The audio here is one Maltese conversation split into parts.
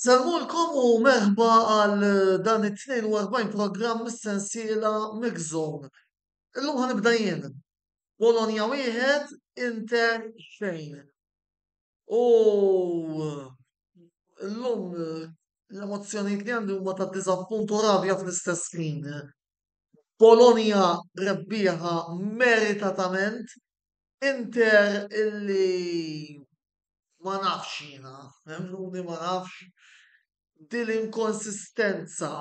Nsalmulkom u merħba għal dan it-42 programm mis-sensiela Mix Zone. Illum ħanibda jien. Bologna wieħed, Inter xejn. U illum l-emozzjonijiet li għandi huma ta' diżappunt u rabja fl-istess ħin. Bologna rebbieħa meritatament, Inter illi ma nafx jiena, emmnuni ma nafx, din l-inkonsistenza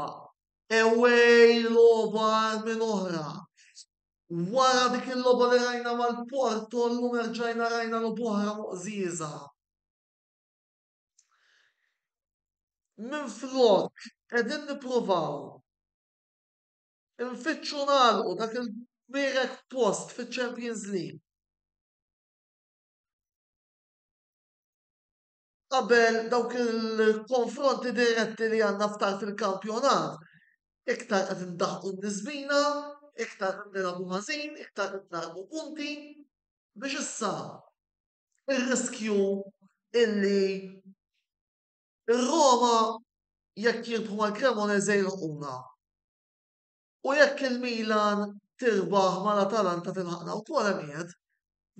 away logħba għal minn oħra. Wara dik il-logħba li rajna mal-Porto llum erġajna rajna logħba oħra moqżieża. Minflok qegħdin nippruvaw infittxu nagħlqu dak il-kbirek post fiċ-Champions League. qabel dawk il-konfronti diretti li għandna ftar fil-kampjonat, iktar qed indaħqu n-nisbina, iktar qed nilagħbu ħażin, iktar qed nagħlqu punti biex issa ir-riskju illi r-Roma jekk jirbħu mal-Cremonese jilħquna. U jekk il-Milan tirbaħ mal-Atalanta tilħaqna wkoll hemm qiegħed.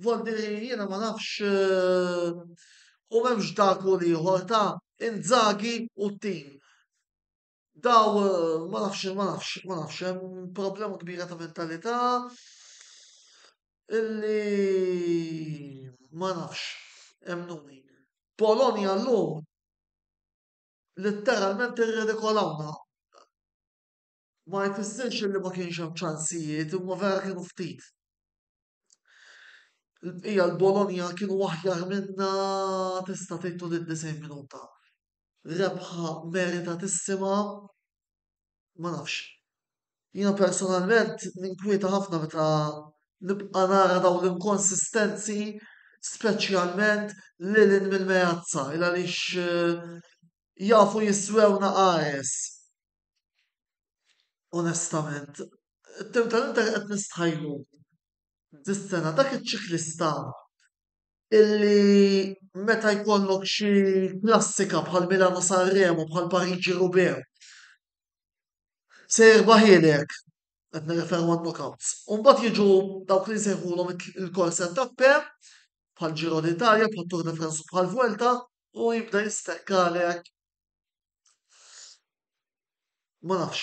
Vol dire jiena ma nafx u m'hemmx dak u l-ieħor ta' Inzaghi u t-tim. Daw ma nafx ma nafx ma nafx hemm problema kbira ta' mentalità illi ma nafx emmnuni. Polonia llum litteralment irredikolawna. Ma jfissirx illi ma kienx hemm ċansijiet imma vera kienu ftit. Il-bqija l-Bologna kienu aħjar minna tista' tgħid tul id-90 minuta. Rebħa meritatissima ma nafx. Jiena personalment ninkwieta ħafna meta nibqa' nara dawn l-inkonsistenzi speċjalment lil hinn mill-meazza il għaliex jafu jiswewna qares. Onestament, it-tim tal-Inter qed nistħajjlu dis-sena. Dak iċ-ċiklista illi meta jkollok xi klassika bħal Milano Sanremo, bħal Pariġi Roubaix, se jirbaħilek, qed nirreferu għan-knockouts. U mbagħad jiġu dawk li nsejħulhom il-corse tappe, bħal Giro d'Italia, bħal Tour de France, bħal Vuelta, u jibda jistekkalek Ma nafx,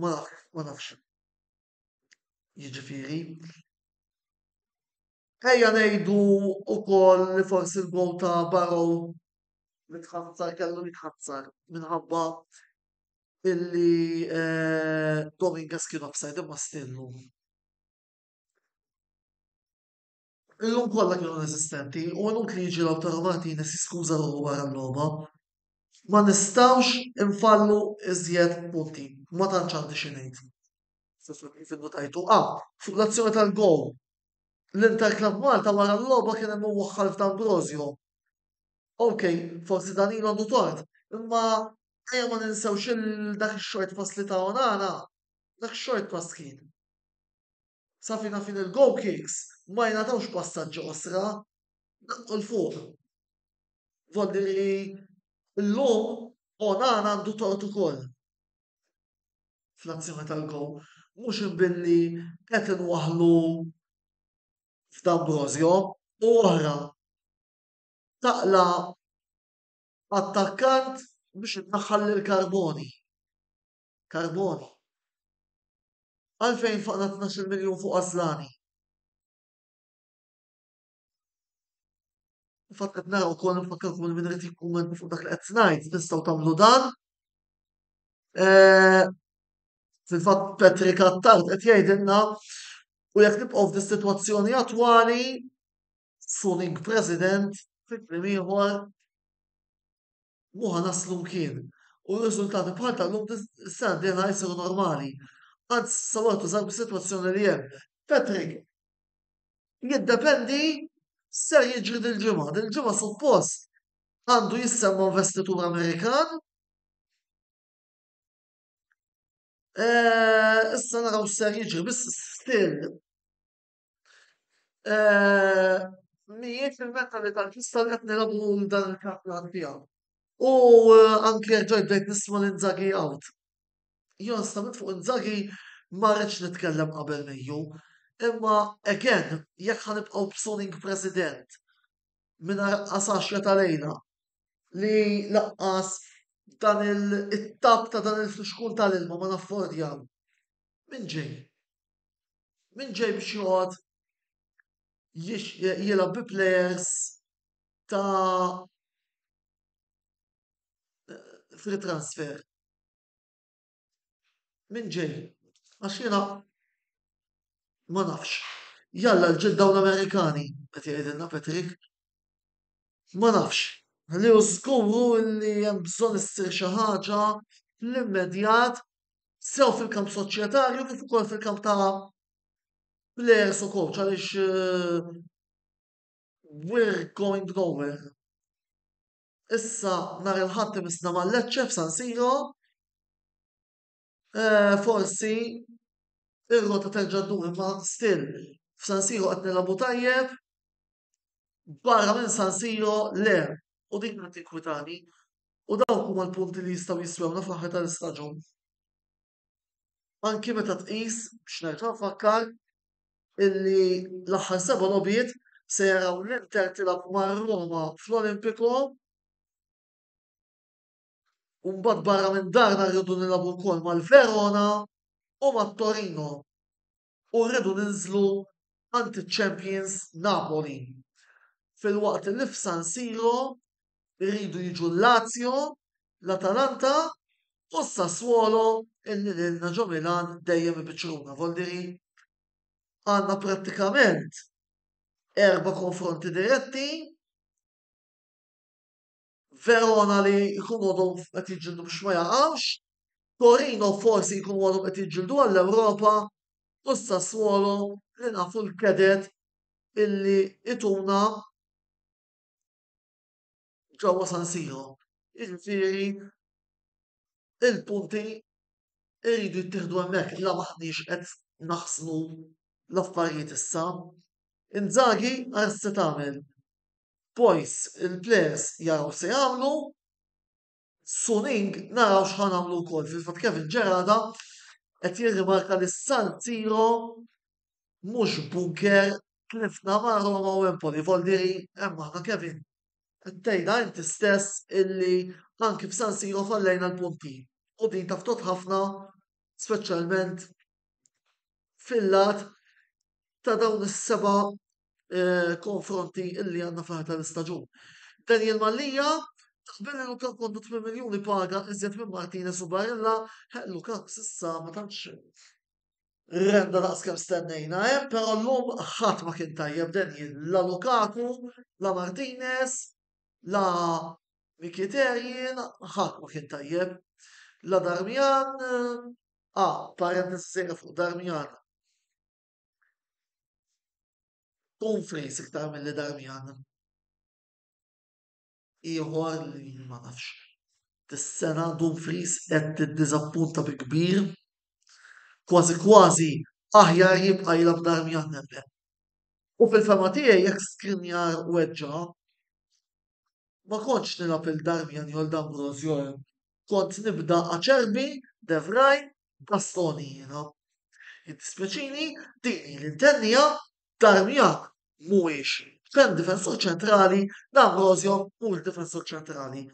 ma nafx, ma nafx. Jiġifieri, ejja ngħidu wkoll li forsi l-gowl ta' Barrow li tħassar kellu jitħassar minħabba illi eh, Dominguez kien offside imma still hu. Illum kollha kienu inesistenti u inutli jiġi l-awtur Malti jnies jiskuża ruħu wara l-logħba. Ma nistgħux infallu iżjed punti. Ma tantx għandi xi ngħid. Kif innutajtu, A, fuq l-azzjoni tal-gowl, l-Inter Club Malta wara l-logħba kien hemm iwaħħal f'D'Ambrosio. Ok, forsi Danilo għandu tort, imma ejja ma ninsewx il dak ix-short pass li ta Onana, dak short pass kien. Sa fina fin il-goal kicks ma jingħatawx passaġġi qosra, daqqu 'l fuq. Volli li llum Onana għandu tort ukoll fl-azzjoni tal-goal, mhux billi qed inwaħħlu f'D'Ambrosio u oħra taqla' attakkant biex innaħħal lil Carboni. Carboni, Għalfejn faqna tnax-il miljun fuq għażlani? Fil-fatt qed nara wkoll infakkarkom li min irid jikkummenta fuq dak li qed ngħid tistgħu tagħmlu dan. Eh, fil-fatt Patrick Attard qed jgħidilna u jekk nibqgħu f'dis-sitwazzjoni attwali Suning President fi kliem ieħor mhu ħa naslu mkien u riżultati bħal ta' llum is-sena d-dieħla jsiru normali. Anzi sawar tuża bis-sitwazzjoni li hemm. Patrick, jiddependi x'ser jiġri dil-ġimgħa. Dil-ġimgħa suppost għandu jissemma investitur Amerikan. Eh, issa naraw x'ser jiġri, biss still Mhijiex il-mentalità ġusta li qed nilgħabu dan il-kampjonat fiha. U anke jekk ġajt bdejt nisma' lil Inzaghi out. Jien onestament fuq Inzaghi ma rridx nitkellem qabel Mejju. Imma again, jekk ħa nibqgħu b'suning president mingħajr qasaxja ta' lejla li laqqas dan it-tap ta' dan il-fixkun tal-ilma ma naffordjaw, min ġej? Min ġej biex joqgħod jilgħab bi plejers ta' free transfer? Min ġej? Għax jiena ma nafx. Jalla l-ġid dawn Amerikani, qed jgħidilna Patrick. Ma nafx. Li hu żgur hu li hemm bżonn issir xi ħaġa fl-immedjat sew fil-kamp soċjetarju kif ukoll fil-kamp ta' players u coach għaliex eh, we're going nowhere. Issa nhar il-ħadd imissna mal-Lecce f'San Siro. Eh, forsi ir-rota terġa' ddur imma still f'San Siro qed nilagħbu tajjeb. Barra minn San Siro le u din qed tinkwitani. U dawk huma l-punti li jistgħu jiswewna fl-aħħar tal-istaġun. Anki meta tqis, biex nerġa' nfakkar, illi l-aħħar seba' logħbiet se jaraw l-Inter tilgħab mar-Roma fl-Olimpico. U mbagħad barra minn darna rridu nilagħbu wkoll mal-Verona u mat-Torino. u rridu ninżlu għand iċ-champions Napoli filwaqt li f'San Siro rridu jiġu l-Lazio, l-Atalanta u s-Sassuolo illi lilna ġo Milan dejjem ibiċċruna Voldiri. Għandna prattikament erba' konfronti diretti Verona li jkunu għadhom qed jiġġieldu biex ma jaqgħux, Torino forsi jkunu għadhom qed jiġġieldu għall-Ewropa u s-Sassuolo li nafu l-kedet illi ituna ġewwa San Siro. Jiġifieri il-punti jridu jittieħdu hemmhekk la maħniex qed naħsnu l-affarijiet issa. Inzaghi għar se tagħmel? Boys il-players jaraw x'se jagħmlu, Suning naraw x'ħa nagħmlu wkoll. Fil-fatt Kevin Ġerada qed jirrimarka li San Siro mhux bunker tlifna ma' Roma u Empoli. Voldiri hemm aħna Kevin. Tgħidha inti stess illi anki f'San Siro fallejna l-punti. U din taftot ħafna speċjalment fil-lat ta' dawn is-seba' eh, konfronti illi għandna fl-aħħar tal-istaġun. Daniel Mallija, Taqbel għu ta' kondu 8 miljoni paga iżjed minn Martinez u Barilla, ħellu kap sissa ma tantx. Renda daqs kem stennejna, eh? pero l-lum ħat ma kien tajjeb denji la Lukaku, la Martinez, la Mikiterjin, ħat ma kien tajjeb. La Darmian, a, ah, parent nisir fuq Darmian, Tom Frace iktar milli Darmian ieħor li ma nafx. Dis-sena Tom Frace qed tiddiżappunta bi kbir. Kważi kważi aħjar jibqa' jilgħab Darmian nemmen. U fil-fema tiegħi jekk Skriniar weġġa' ma kontx nilgħab il-Darmian jew l-D'Ambrosio kont nibda Acerbi, De Vrij bastoni jiena. Jiddispjaċini, din hi li ntennija, Darmian mhuwiex x'hemm difensur ċentrali, D'Ambrosio mhuwiex difensur ċentrali.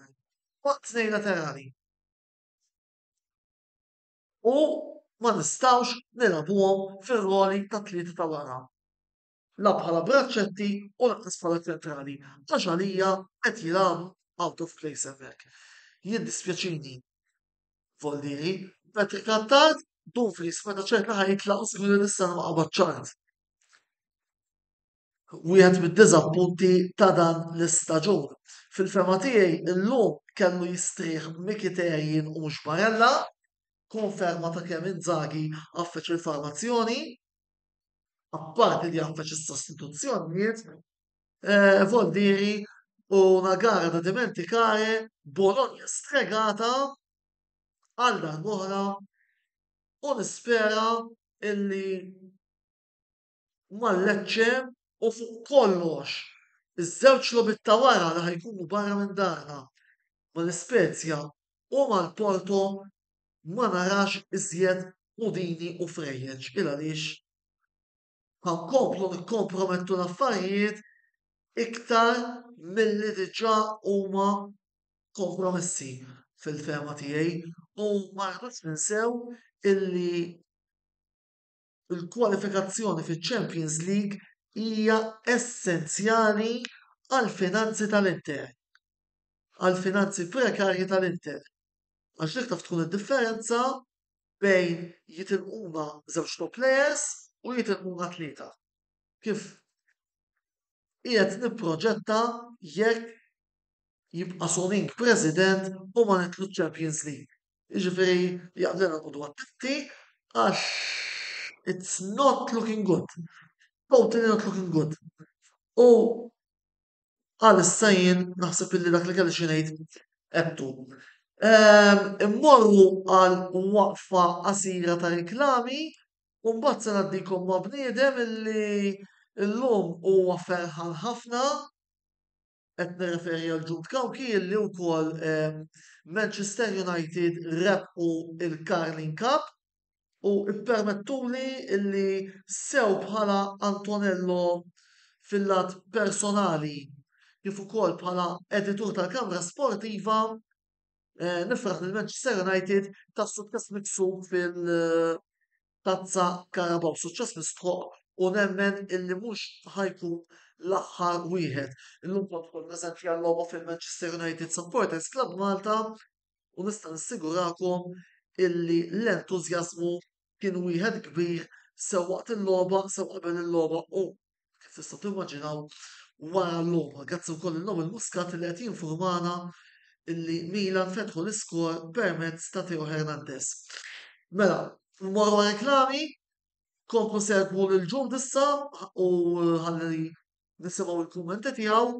Huma tnejn laterali. U ma nistgħux nilgħbuhom fir-roli tat-tlieta ta' wara. la bħala braċċetti u lanqas bħala ċentrali għax għalija qed jilagħbu out of place hemmhekk. Jiddispjaċini Voldieri, Patrick Attard, Dumfries meta ċerta ħaj jitlaq u sigur nista' ma qabad ċart. Wieħed mid-diżappunti ta' dan l-istaġun. Fil-fema tiegħi illum kellu jistrieħ Mikiterjin u mhux Barella, konferma ta' kemm Inzaghi għaffeċ il-formazzjoni. apparti li jaffaċ is-sostituzzjonijiet, eh, vuol dire una gara da dimenticare, Bologna stregata għal darbohra u nispera illi mal-Lecce u fuq kollox iż-żewġ logħbiet ta' wara li ħajkunu barra minn darna mal-Ispezja u mal-Porto ma narax iżjed pudini u frejjeġ il għaliex ħa nkomplu nikkompromettu l-affarijiet iktar milli diġà huma kompromessi fil-fehma tiegħi u ma rridux ninsew illi il-kwalifikazzjoni fiċ-Champions League hija essenzjali għall-finanzi tal-Inter, għall-finanzi prekarji tal-Inter, għax dik taf tkun id-differenza bejn jitilquna żewġ top players u jitilquna tlieta. Kif qiegħed nipproġetta jekk jibqa' Soning President u ma nitlu Champions League. Jiġifieri li għandna noqogħdu attenti għax it's not looking good. Totally not looking good. U għalissa jien naħseb illi dak li kelli xi ngħid għedtu. Ehm, immorru għal waqfa qasira ta' riklami u mbagħad se ngħaddikom ma' bniedem illi llum huwa ferħan ħafna. Qed nirreferi għal Jude Cauchi li wkoll Manchester United rebħu il-Carling Cup u ippermettuli li sew bħala Antonello fil-lat personali kif ukoll bħala editur tal-Kamra Sportiva nifraħ lil Manchester United tas-suċċess miksub fil- Tazza Carabao suċċess mistħoqq u nemmen illi mhux ħa jkun l-aħħar wieħed. Illum kont ukoll preżenti għal-logħba fil-Manchester United Supporters Club Malta u nista' nissigurakom illi l-entużjażmu kien wieħed kbir sew waqt il-logħba sew qabel il-logħba u Kif tistgħu timmaġinaw wara l-logħba, grazzi wkoll il-lum il-Muscat li qed jinformana illi Milan fetħu l-iskor permezz ta' Theo Hernandez. Mela, mmorru reklami, komplu segwu lil ġud issa u ħalli nisimgħu l-kummenti tiegħu.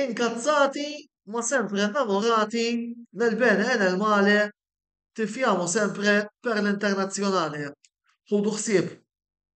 Inkazzati ma sempre innamorati nel bene e nel male tifjamo sempre per l-internazzjonale. Ħudu ħsieb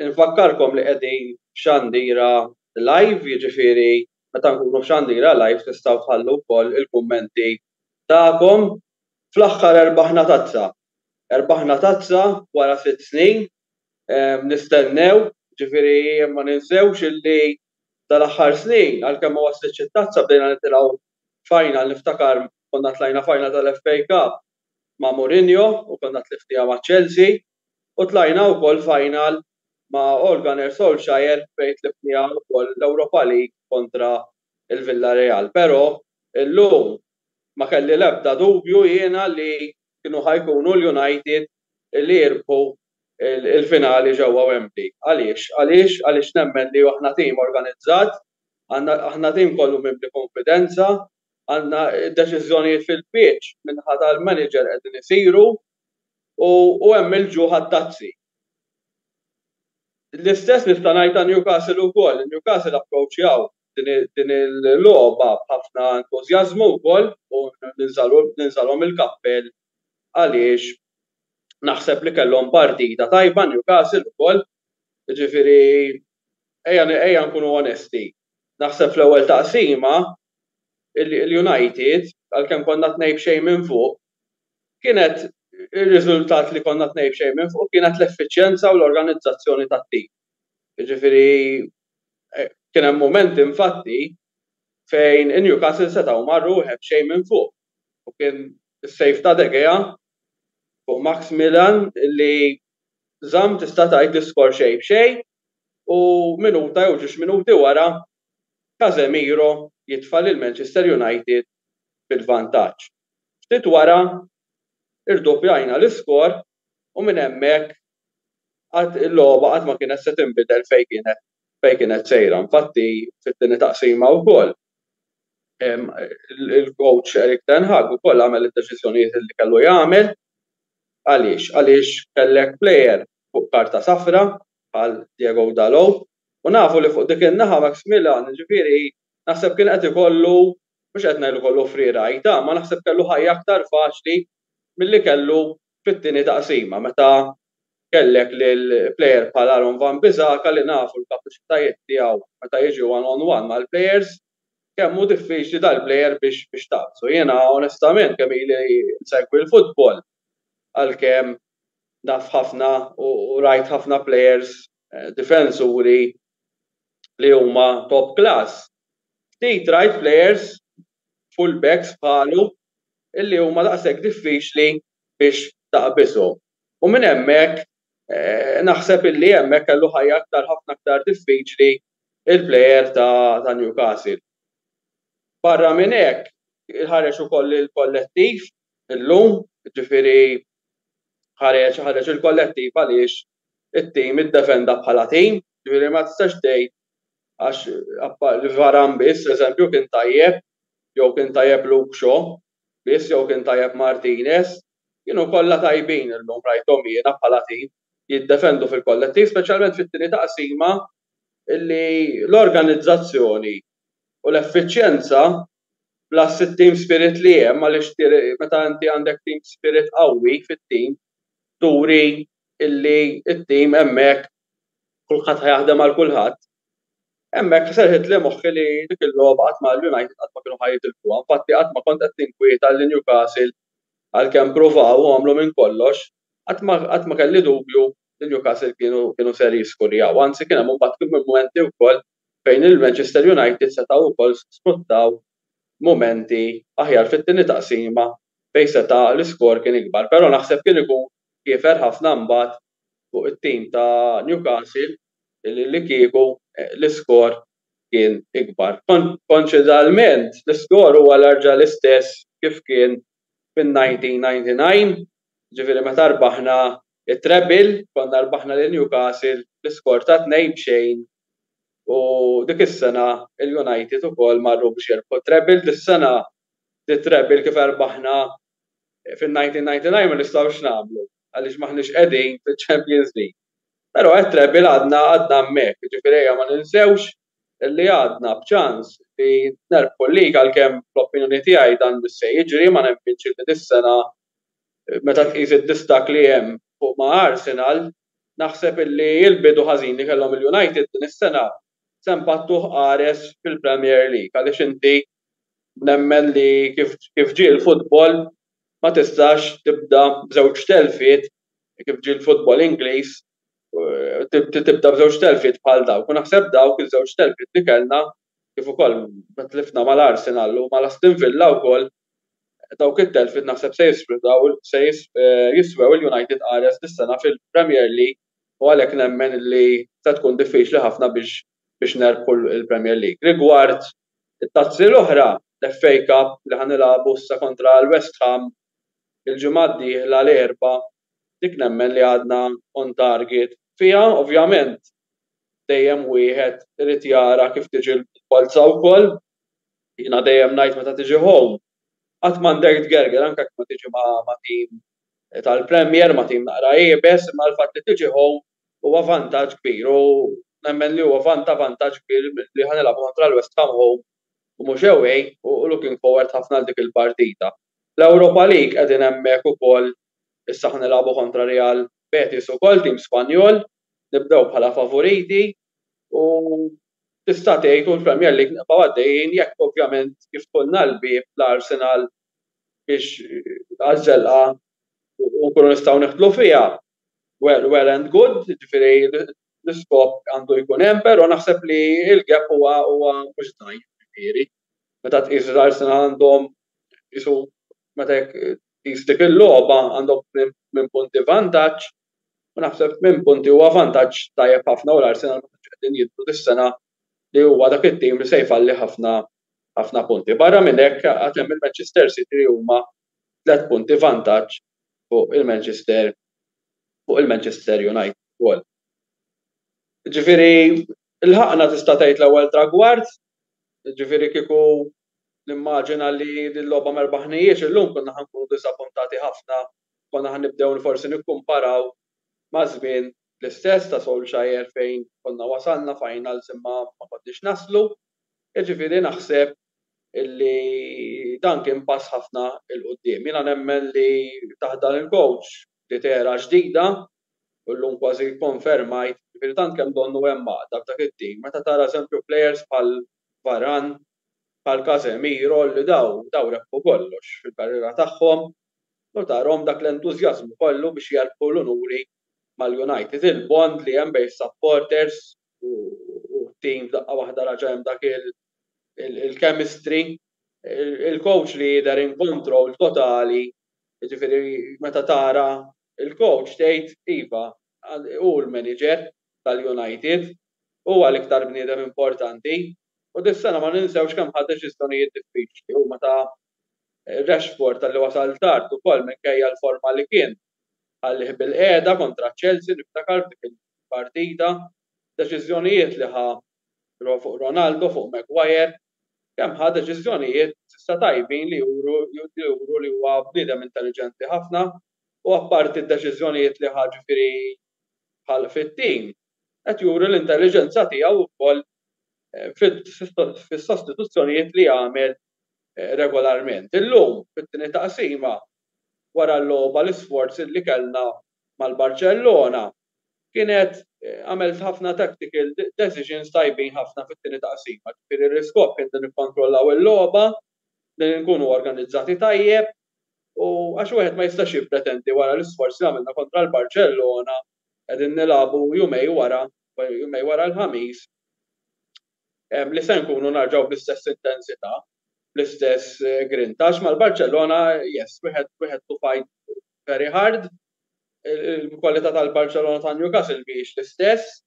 Nfakkarkom li qegħdin f'xandira live, jiġifieri meta nkunu f'xandira live tistgħu tħallu wkoll il-kummenti tagħkom. Fl-aħħar erbaħna tazza. Erbaħna tazza wara sitt snin nistennew, jiġifieri ma ninsewx illi dal-aħħar snin għalkemm ma waslitx it-tazza bdejna nitilgħu final, niftakar konna tlajna final tal-FA Cup ma' Mourinho u kellna tlifnija ma' Chelsea u tlajna wkoll final ma' Ole Gunnar Solskjaer fejn tlifnija wkoll l-Europa League kontra l-Villareal. Pero illum ma kelli l-ebda dubju jiena li kienu ħa jkunu l-United li jirbħu l-finali ġewwa Wembley. Għaliex? Għaliex? Għaliex nemmen li aħna tim organizzat, aħna tim kollu mimli konfidenza, għandna deċiżjonijiet fil-pitch min-naħa tal-manager qegħdin isiru u hemm il-ġuħ għat-tazzi. L-istess nista' ngħid ta' Newcastle wkoll, Newcastle approċċjaw din il-logħba b'ħafna entużjażmu wkoll u ninżalhom il-kappell għaliex naħseb li kellhom partita tajba Newcastle ukoll, jiġifieri ejja nkunu onesti. Naħseb fl-ewwel taqsima illi l-United, għalkemm konna tnejn b'xejn minn fuq, kienet ir-riżultat li konna tnejn b'xejn minn fuq kienet l-effiċjenza u l-organizzazzjoni tat-tim. Jiġifieri kien hemm mumenti infatti fejn Newcastle setgħu marru wieħed b'xejn minn fuq u kien is-save ta' De Gea fuq Maximilian illi żamm tista' tgħid l-iskor xejn b'xejn u minuta jew ġiex minuti wara Casemiro jitfa' lil Manchester United fil-vantaġġ. Ftit wara irdoppjajna l-iskor u minn hemmhekk għad il-logħba għad ma kienet se tinbidel fejn kienet fejn kienet sejra. Infatti fit-tieni taqsima wkoll il-coach Erik Ten Hag ukoll għamel id-deċiżjonijiet illi kellu jagħmel. Għaliex? Għaliex kellek plejer fuq karta safra bħal Diego Dalot U nafu li fuq dik in-naħa Maxmillan, jiġifieri, naħseb kien qed ikollu, mhux qed ngħid li kollu friegħa għajta, imma naħseb kellu ħajja aktar faċli milli kellu fit-tieni taqsima meta kellek lil plejer bħal Aaron Wan-Bissaka li nafu l-kapaċitajiet tiegħu meta jiġi one on one mal-plejers kemm hu diffiċli dal-plejer biex tagħfsu. Jiena onestament kemm ili insegwi l-futbol għalkemm naf ħafna u rajt ħafna plejers difensuri li huma top class, ftit right players, full backs bħalu illi huma daqshekk diffiċli biex taqbishom. U minn hemmhekk naħseb illi hemmhekk kellu ħajja aktar ħafna aktar diffiċli l-player ta' ta' Newcastle. Barra minn hekk ħareġ ukoll il-kollettiv illum, ġifieri ħareġ ħareġ il-kollettiv għaliex it-tim iddefenda bħala tim, ġifieri ma tistax tgħid għax Varane biss eżempju kien tajjeb jew kien tajjeb Luke Shaw biss jew kien tajjeb Martinez, kienu kollha tajbin illum rajthom jiena bħala tim jiddefendu fil-kollettiv speċjalment fit-tieni taqsima li l-organizzazzjoni u l-effiċjenza bla s team spirit li hemm għaliex meta inti għandek team spirit qawwi fit-tim turi illi t-tim hemmhekk kulħadd ħajaħdem għal kulħadd. Hemmhekk serħitli moħħi li dik il-logħba qatt ma l-United qatt ma kienu ħajitilfuha, infatti qatt ma kont qed ninkwieta li Newcastle għalkemm pruvaw u għamlu minn kollox, qatt ma kelli dubju li Newcastle kienu ser jiskurjaw, anzi kien hemm imbagħad mumenti wkoll fejn il-Manchester United setgħu wkoll sfruttaw mumenti aħjar fit-tieni taqsima fejn seta' l-iskor kien ikbar, però naħseb kien ikun kiefer ħafna mbagħad fuq it-tim ta' Newcastle li kieku l-iskor kien ikbar. Konċidalment, l-iskor huwa l-erġa' l-istess kif kien fin-1999, jiġifieri meta rbaħna t-treble, konna rbaħna lil Newcastle bi skor ta' tnejn b'xejn u dik is-sena l-United ukoll marru biex jirbħu t-treble. Dis-sena t-treble kif erbaħna fin-1999 ma nistgħux nagħmlu għaliex m'aħniex qegħdin fiċ-Champions League. Però t-treble għadna hemmhekk, jiġifieri ejja ma ninsewx li għadna b'ċans li nerbħu l-lig għalkemm fl-opinjoni tiegħi dan mhux se jiġri, ma nemminx illi dis-sena meta tqis id-distakk li hemm fuq ma' Arsenal naħseb illi l-bidu ħażin li kellhom il-United din is-sena se npattuh qares fil-Premier League għaliex inti nemmen li kif ġie l-futbol ma tistax tibda b'żewġ telfiet kif ġie l-futbol Ingliż tibda b'żewġ telfiet bħal dawk u naħseb dawk iż-żewġ telfiet li kellna kif ukoll meta tlifna mal-Arsenal u mal-Aston Villa wkoll dawk it-telfiet naħseb se jisfrudaw se jiswew il-United qares dis-sena fil-Premier League u għalhekk nemmen li se tkun diffiċli ħafna biex biex nerbħu l-Premier League. Rigward it-tazzi l-oħra, l-FA Cup li ħa nilagħbu issa kontra l-West Ham il-ġimgħa d-dieħla l-Erbgħa Dik nemmen li għadna on target fiha. Ovvjament dejjem wieħed irid jara kif tiġi l-polza wkoll. Jiena dejjem ngħid meta tiġi home qatt m'għandek tgerger anke jekk ma tiġi ma' tim tal-Premier, ma' tim naqra iebes, imma l-fatt li tiġi home huwa vantaġġ kbir u nemmen li huwa vanta vantaġġ kbir li ħa nilagħbu kontra l-West Ham home u mhux away u looking forward ħafna għal dik il-partita. L-Europa League qegħdin hemmhekk ukoll Issa ħa nilagħbu kontra Real Betis ukoll, tim Spanjol, nibdew bħala favoriti u tista' tgħid hu l-Premier League nibqgħu għaddejjin jekk ovvjament jiftħulna l-bieb l-Arsenal biex għaż-żelqa u nkunu nistgħu nidħlu fiha. Well, well and good, jiġifieri l-iskop għandu jkun hemm, però naħseb li l-gap huwa mhux żgħir, jiġifieri. meta tqis żgħar sena għandhom qisu meta jekk tqis dik il-logħba għandhom tmien punti vantaġġ u naħseb tmien punti huwa vantaġġ tajjeb ħafna u l-Arsenal ma tantx qegħdin jidhru dis-sena li huwa dak it-tim li se jfalli ħafna ħafna punti. Barra minn hekk għad hemm il-Manchester City li huma tliet punti vantaġġ fuq il-Manchester fuq il-Manchester United ukoll. Ġifieri lħaqna tista' tgħid l-ewwel tragward Jiġifieri kieku nimmaġina li din il-logħba ma rbaħnihiex illum konna ħa nkunu diżappuntati ħafna, konna ħa nibdew forsi nikkumparaw ma' żmien l-istess ta' Solskjaer fejn konna wasalna finals imma ma konniex naslu. Jiġifieri naħseb illi dan kien pass ħafna 'l quddiem. Jiena nemmen li taħt dan il-coach bdiet era ġdida u llum kważi kkonfermajt, ġifieri tant kemm donnu hemm għaqda f'dak it-tim meta tara eżempju plejers bħal Varane, bħal Casemiro li dawn dawn rebħu kollox fil-karriera tagħhom u tarahom dak l-entużjażmu kollu biex jerbħu l-unuri mal-United. Il-bond li hemm bejn is-supporters u t-tim f'daqqa waħda raġa' hemm dak il-chemistry. Il-coach li jidher in control totali, jiġifieri meta tara Il-coach tgħid iva, hu l-manager tal-United, huwa l-iktar bniedem importanti u dis-sena ma ninsewx kemm ħa deċiżjonijiet diffiċli, huma ta' Rashford talli wasal tard ukoll minkejja l-forma li kien ħallih bilqiegħda kontra Chelsea niftakar f'dik il-partita, deċiżjonijiet li ħa fuq Ronaldo, fuq Maguire, kemm ħa deċiżjonijiet s'issa tajbin li juru li huwa bniedem intelliġenti ħafna. u apparti d-deċiżjonijiet li ħa ġifieri bħal fit-tim, qed juri l-intelliġenza tiegħu wkoll fis-sostituzzjonijiet li jagħmel regolarment. Illum, fit-tieni taqsima, wara l-logħba l-isforz li kellna mal-Barċellona kienet għamilt ħafna tactical decisions tajbin ħafna fit-tieni taqsima, ġifieri l-iskop kien li nikkontrollaw il-logħba, li nkunu organizzati tajjeb u għax wieħed ma jistax jippretendi wara l-isforz li għamilna kontra l-Barċellona qegħdin nilagħbu jumej wara jumej wara l-Ħamis li se nkunu narġgħu bl-istess intensità bl-istess grinta għax mal-Barċellona yes wieħed wieħed to fight very hard il-kwalità tal-Barċellona ta' Newcastle mhijiex l-istess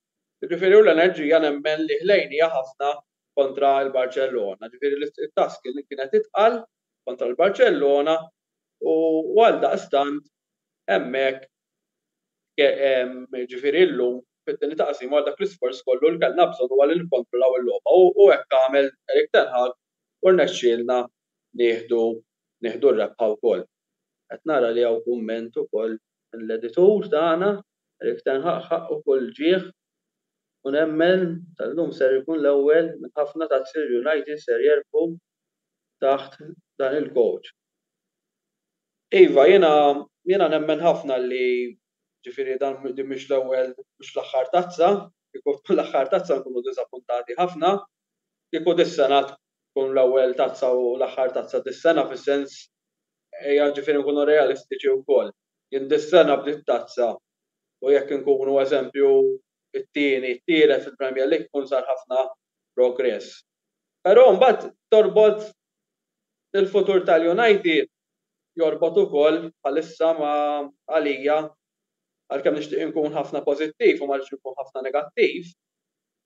Jiġifieri u l-enerġija nemmen li ħlejnija ħafna kontra l-Barċellona, jiġifieri li t-task kienet itqal kontra l-Barċellona u għaldaqstant hemmhekk jiġifieri llum fit-tieni taqsima wara dak l-isforz kollu li kellna bżonn huwa li nikkontrollaw il-logħba u hekk għamel Erik ten Hag u rnexxielna nieħdu r-rebħa wkoll. Qed nara li hawn kumment ukoll mill-editur tagħna, Eric Ten Hag ħaqqu kull ġieħ u nemmen tal-lum ser ikun l-ewwel minn ħafna tazzi li United ser jerbħu taħt dan il-coach. Iva, jiena jiena nemmen ħafna li ġifieri dan din mhix l-ewwel mhux l-aħħar tazza, kieku tkun l-aħħar tazza nkunu diżappuntati ħafna, kieku dis-sena tkun l-ewwel tazza u l-aħħar tazza dis-sena fis-sens ejja ġifieri nkunu realistiċi wkoll. Jien dis-sena bdiet tazza u jekk inkunu eżempju t-tieni, t-tielet fil-Premier League ikun sar ħafna progress. Però mbagħad torbot il-futur tal-United jorbot ukoll bħalissa ma' għalija għalkemm nixtieq inkun ħafna pożittiv u ma rridx inkun ħafna negattiv,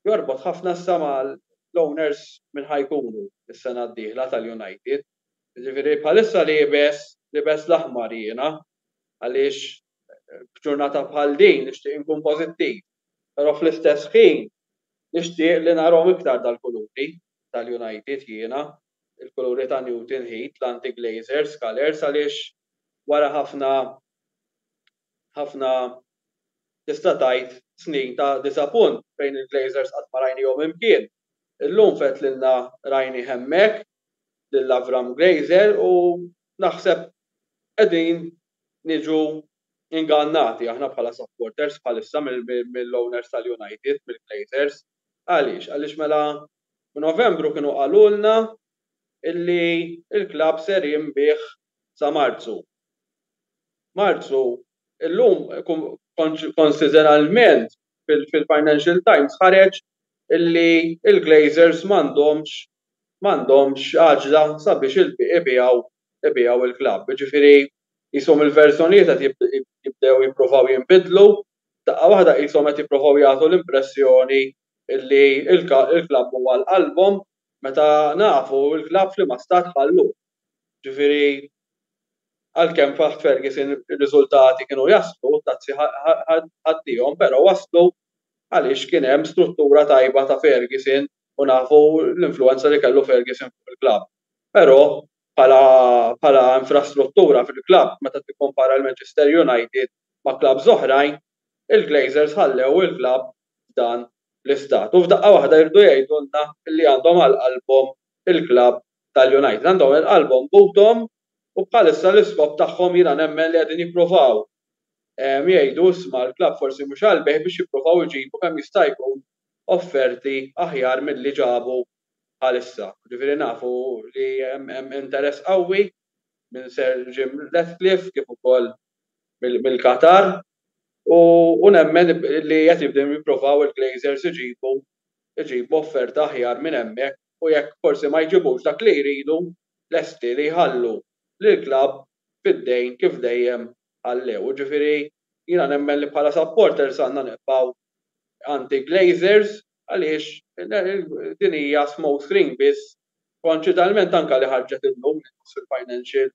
jorbot ħafna issa ma' l-owners min ħa jkunu s-sena d-dieħla tal-United. Jiġifieri bħalissa liebes libes l-aħmar jiena għaliex f'ġurnata bħal din nixtieq inkun pożittiv. Però fl-istess ħin nixtieq li narahom iktar dal-kuluri tal-United jiena, il-kuluri ta' Newton Heat, l-anti-Glazers colours għaliex wara ħafna ħafna tista' tgħid snin ta' diżapunt fejn il-Glazers qatt ma rajnihom imkien. Illum f'Għid l-Ilna rajnih hemmhekk lil Avram Glazer u naħseb qegħdin niġu ingannati aħna bħala supporters bħalissa mill-owners tal-United, mill-Glazers. Għaliex? Għaliex mela f'Novembru kienu qalulna illi l-klabb ser jinbiegħ sa Marzu. Marzu, illum konsideralment fil-Financial Times ħareġ li l-Glazers m'għandhomx m'għandhomx għaġla sabiex ibigħu ibigħu il-klabb. Jiġifieri qishom il-verżjonijiet qed jibdew jippruvaw jinbidlu, f'daqqa waħda qishom qed jippruvaw jagħtu l-impressjoni li l-klabb huwa għal qalbhom meta nafu l-klabb f'liema stat ħalluh. Ġifieri, għalkemm f'Għadd Ferguson ir-riżultati kienu jaslu, t-tazzi ħadtihom, però waslu għaliex kien hemm struttura tajba ta' Ferguson u nafu l-influwenza li kellu Ferguson fuq il-klabb. Però bħala bħala infrastruttura fil-klabb meta tikkumpara l-Manchester United ma' klabbs oħrajn, il-Glazers ħallew il-klabb f'dan l-istat. U f'daqqa waħda jridu jgħidulna li għandhom għal qalbhom il-klabb tal-United għandhom lil qalbhom b'għudhom u bħalissa l-iskop tagħhom jiena nemmen li qegħdin jippruvaw jgħidu isma' l-klabb forsi mhux qalbih biex jippruvaw iġibu kemm jista' jkun offerti aħjar milli ġabu bħalissa. Ġifieri nafu li hemm interess qawwi minn Sir Jim Ratcliffe kif ukoll mill-Qatar u nemmen li qed jibdew jippruvaw il-Glazers iġibu offerta aħjar minn hemmhekk u jekk forsi ma jġibux dak li jridu, lesti li jħallu lill-klabb fid-dejn kif dejjem ħallew. Jiġifieri jiena nemmen li bħala supporters għandna nibqgħu anti-Glazers għaliex din hija smoke screen biss koinċitalment anke li ħarġet illum fil-Financial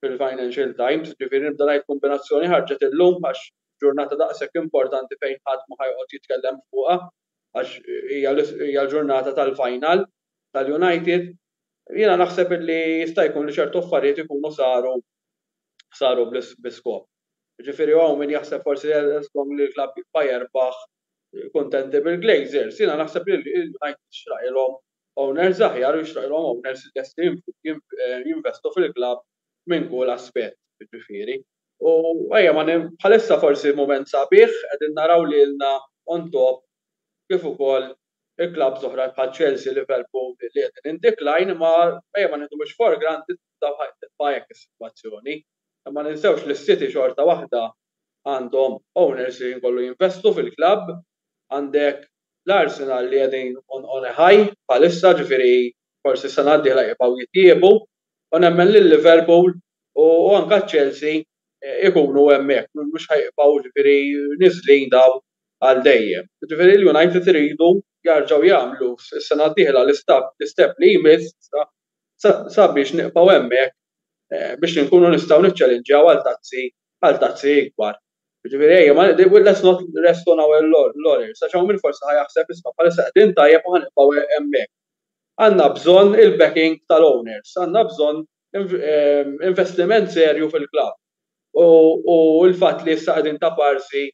fil-Financial Times, jiġifieri nibda ngħid kombinazzjoni ħarġet illum għax ġurnata daqshekk importanti fejn ħadd ma ħa joqgħod jitkellem fuqha għax hija l-ġurnata tal-final tal-United, jiena naħseb illi jista' jkun li ċertu affarijiet ikunu saru saru bi skop. Jiġifieri hawn min jaħseb forsi żgomm li l-klabb jibqa' jerbaħ kuntenti bil-Glazers. Jiena naħseb li l-United jixraqilhom owners aħjar u jixraqilhom owners lesti jinvestu fil-klabb minn kull aspett, jiġifieri. U ejja ma bħalissa forsi mument sabiħ, qegħdin naraw lilna on top kif ukoll il-klabbs oħra bħal Chelsea, Liverpool li qegħdin in decline imma ejja ma nieħduhomx for granted tibqa' hekk is-sitwazzjoni. Ma ninsewx li s-City xorta waħda għandhom owners li jkollu jinvestu fil-klabb, għandek l-Arsenal li qegħdin on a high bħalissa ġifieri forsi s-sena d-dieħla jibqgħu jitjiebu. U nemmen li l-Liverpool u anke ċ-Chelsea jkunu hemmhekk, mhux ħa jibqgħu ġifieri niżlin dawn għal dejjem. Ġifieri l-United iridu jerġgħu jagħmlu s-sena d-dieħla l-istep li jmiss sabiex nibqgħu hemmhekk biex inkunu nistgħu niċċelinġjaw għal tazzi għal tazzi ikbar. Ġifieri ejja ma let's not rest on our laurels għax hawn min forsi ħa jaħseb isma' bħalissa qegħdin tajjeb u ħa nibqgħu hemmhekk. Għandna bżonn il-backing tal-owners, għandna bżonn investiment serju fil-klabb u l-fatt li issa qegħdin taparsi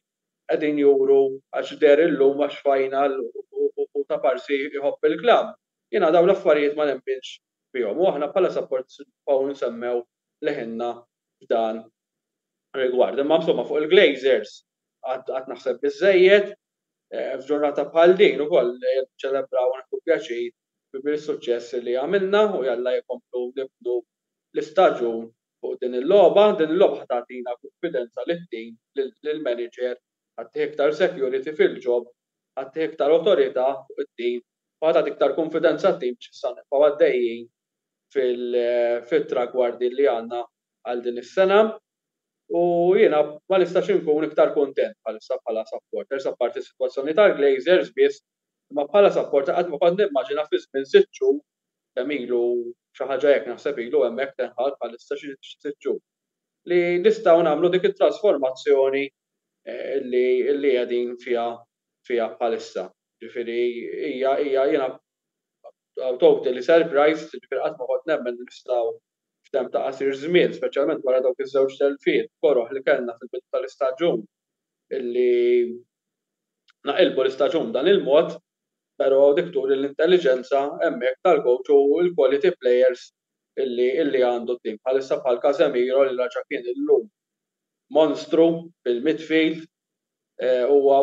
qegħdin juru għax deher illum għax final u taparsi jħobb il-klabb, jiena dawn l-affarijiet ma nemminx fihom u aħna bħala supporters nibqgħu nsemmew leħinna f'dan rigward. Imma insomma fuq il-Glazers għad naħseb biżżejjed. F'ġurnata bħal din ukoll niċċelebraw u nieħdu pjaċir bil-suċċess li għamilna u jalla jkomplu nibnu l-istaġun fuq din il-logħba. Din il-logħba ħa tagħtina kunfidenza lid-din, lill-manager, ħa ttih iktar security fil-job, ħa ttih iktar awtorità fuq it-tim u ħa tagħti iktar kunfidenza t-tim biex issa nibqgħu għaddejjin fit-tragwardi li għandna għal din is-sena. U jiena ma nistax inkun iktar kuntent bħalissa bħala supporters, apparti s-sitwazzjoni tal-Glazers biss, imma bħala supporter qatt ma kont nimmaġina fi żmien sitt xhur, kemm ilu, xi ħaġa hekk naħseb ilu hemmhekk Ten Hag bħalissa xi sitt xhur, li nistgħu nagħmlu dik it-trasformazzjoni li qegħdin fiha fiha bħalissa. Jiġifieri hija hija jiena totally surprised, jiġifieri qatt ma kont nemmen li nistgħu f'temp ta' qasir żmien, speċjalment wara dawk iż-żewġ telfiet koroh li kellna fil-bidu tal-istaġun illi naqilbu l-istaġun b'dan il-mod, pero dik turi l-intelliġenza hemmhekk tal-coach u l-quality players illi għandu t-tim bħalissa bħal Casemiro li raġa' kien illum monstru fil-midfield, huwa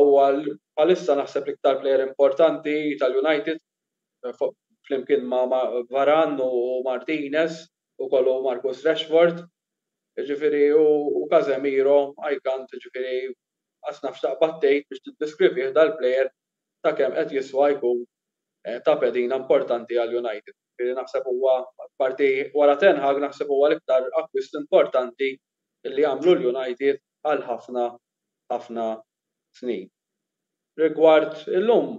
bħalissa naħseb l-iktar player importanti tal-United flimkien ma' Varane u Martinez, ukoll u Marcus Rashford, jiġifieri u Casemiro, I can't, jiġifieri qatt naf x'taqbad tgħid biex tiddiskrivih dal-plejer ta' kemm qed jiswa jkun ta' pedina importanti għal United. Jiġifieri naħseb huwa, apparti wara Ten Hag, naħseb huwa l-iktar akkwist importanti li għamlu l-United għal ħafna, ħafna snin. Rigward illum,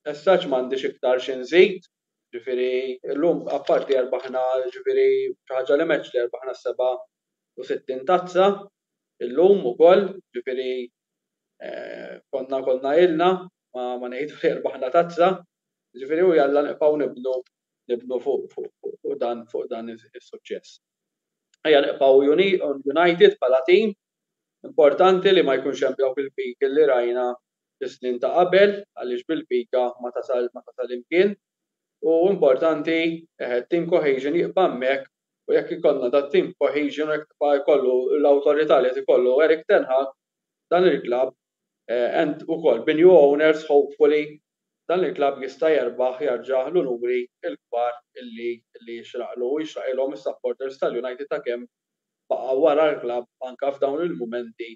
as such m'għandix iktar xi nżid, ġifieri llum apparti erbaħna ġifieri xi ħaġa li m'għedx li rbaħna s-seba' u sittin tazza illum ukoll, ġifieri konna konna ilna ma ma ngħidu li rbaħna tazza, ġifieri u jalla nibqgħu nibnu nibnu fuq fuq fuq dan fuq dan is-suċċess. Ejja nibqgħu united bħala tim Importanti li ma jkunx hemm dawk il-piki li rajna fis-snin ta' qabel għaliex bil-pika ma tasal ma tasal imkien u importanti team cohesion jibqa' hemmhekk u jekk ikollna dat-team cohesion u jekk tibqa' jkollu l-awtorità li qed ikollu Erik ten Hag dan il-klabb and ukoll b'new owners hopefully dan il-klabb jista' jerbaħ jerġa' l-unuri l-kbar li jixraqlu u jixraqilhom is-supporters tal-United ta' kemm baqa' wara l-klabb anke f'dawn il-mumenti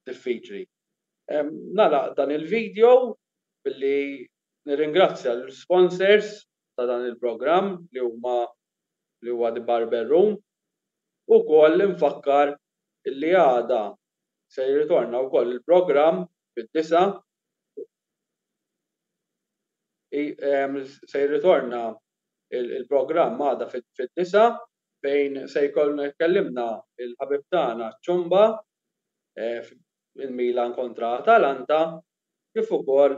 diffiċli. Nagħlaq dan il-video billi nirringrazzja l-sponsors ta' dan il-programm li huma li huwa The Barber Room u wkoll infakkar illi għada se jirritorna wkoll il-programm fid-disgħa se jirritorna il-programm għada fid-disgħa. fejn se jkollna jkellimna l-ħabib tagħna Ciomba fil-Milan kontra Atalanta kif ukoll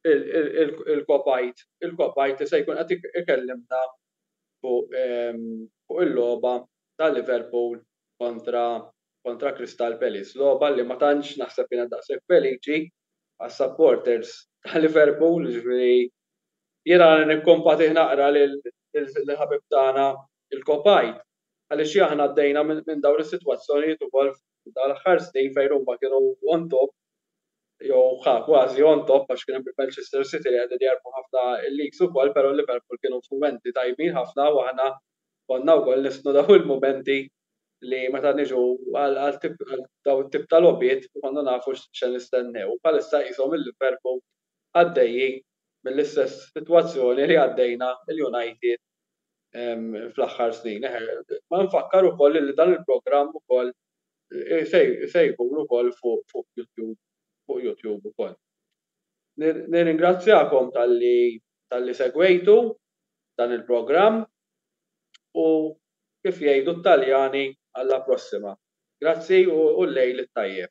il-kopajt, il-kopajt li se jkun qed ikellimna fuq il-logħba ta' Liverpool kontra Crystal Palace. Logħba li ma tantx naħseb kienet daqshekk feliċi għas-supporters ta' Liverpool, jiġifieri Jiena nikkompatih naqra lill-ħabib tagħna l-Kopajt għaliex aħna għaddejna minn dawn is-sitwazzjonijiet ukoll f'dawn l-aħħar snin fejn huma kienu on top jew ħa kważi on top għax kien hemm il-Manchester City li qegħdin jerbħu ħafna leagues ukoll però Liverpool kienu f'mumenti tajbin ħafna u aħna konna wkoll nistnu dawn il-mumenti li meta niġu għal dawn it-tip ta' logħbiet inkunu nafu x'se nistennew. Bħalissa qishom il-Liverpool għaddejjin mill-istess sitwazzjoni li għaddejna l-United fl-aħħar snin. Ma nfakkar ukoll li dan il-programm ukoll se jkun ukoll fuq YouTube, fuq YouTube ukoll. Nirringrazzjakom talli talli segwejtu dan il-programm u kif jgħidu t-Taljani alla prossima. Grazzi u l-lejl it-tajjeb.